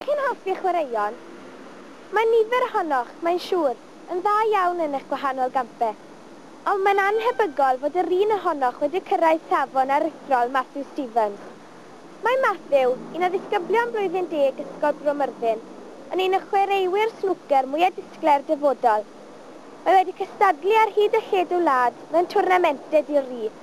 Dych chi'n hoffi chwaraeon? Mae nifer ohonoch, mae'n siŵr, yn dda iawn yn eich gwahanol gampau. Ond mae'n annhebygol fod yr un ohonoch wedi cyrraedd safon aruthrol Matthew Stevens. Mae Matthew, un o ddisgyblion blwyddyn deg Ysgol Bro Myrddin, yn un o chwaraewyr snwcer mwya' disglair dyfodol. Mae wedi cystadlu ar hyd a lled y wlad mewn twrnamentau di-ri.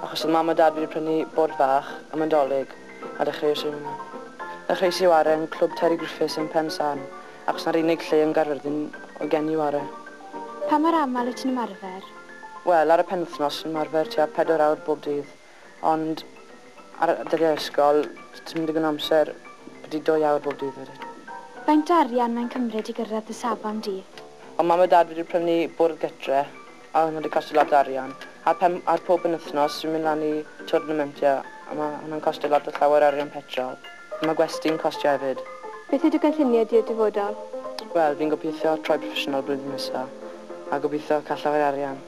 Achos oedd Mam a Dad wedi prynu bord fach am y 'Dolig a dechreuais i yno. Ddechreuais i ware yn Clwb Terry Griffiths yn Pen San achos 'na'r unig lle yn Gaerfyrddin oedd gen i ware. Pa mor aml wyt ti'n ymarfer? Wel, ar y penwythnos fi'n ymarfer tua pedwar awr bob dydd, ond ar dyddiau ysgol, does dim digon o amser, byti dwy awr bob dydd wedyn. Faint o arian mae'n cymryd i gyrraedd dy safon di? Oedd Mam a Dad wedi prynu bwrdd gytre a hwnna 'di costio lot o arian a pan... ar pob penwythnos fi'n mynd lan i twrnamentia a ma' hwnna'n costio lot o llawer o arian petrol a ma' gwesty'n costio hefyd. Beth yw dy gynlluniau di i'r dyfodol? Wel fi'n gobeithio troi proffesiynol blwyddyn nesa a gobeithio ca'l llawer o arian.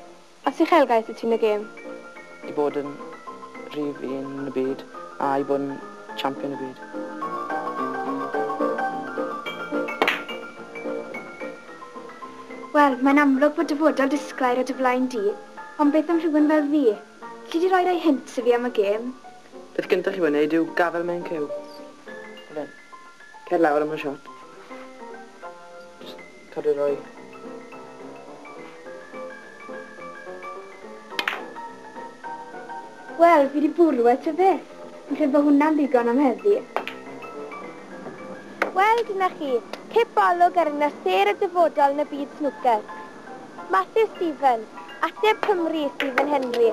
Os uchelgais wyt ti yn y gêm? I bod yn rhif un yn y byd a i bod yn champion y byd. Wel, mae'n amlwg bod dyfodol disglair o dy flaen di, ond beth am rhywun fel fi? Lli di roi rai hints i fi am y gêm? Peth gyntaf i'w wneud yw gafael mewn cyw. Cer lawr am y shot. Cadw rhoi. Wel, fi di bwrw e ta beth. Fi'n credu bod hwnna'n ddigon am heddi. Wel, dyna chi, cip olwg ar yna sêr y dyfodol yn y byd snwcer. Matthew Stephen, ateb Cymru i Stephen Henry.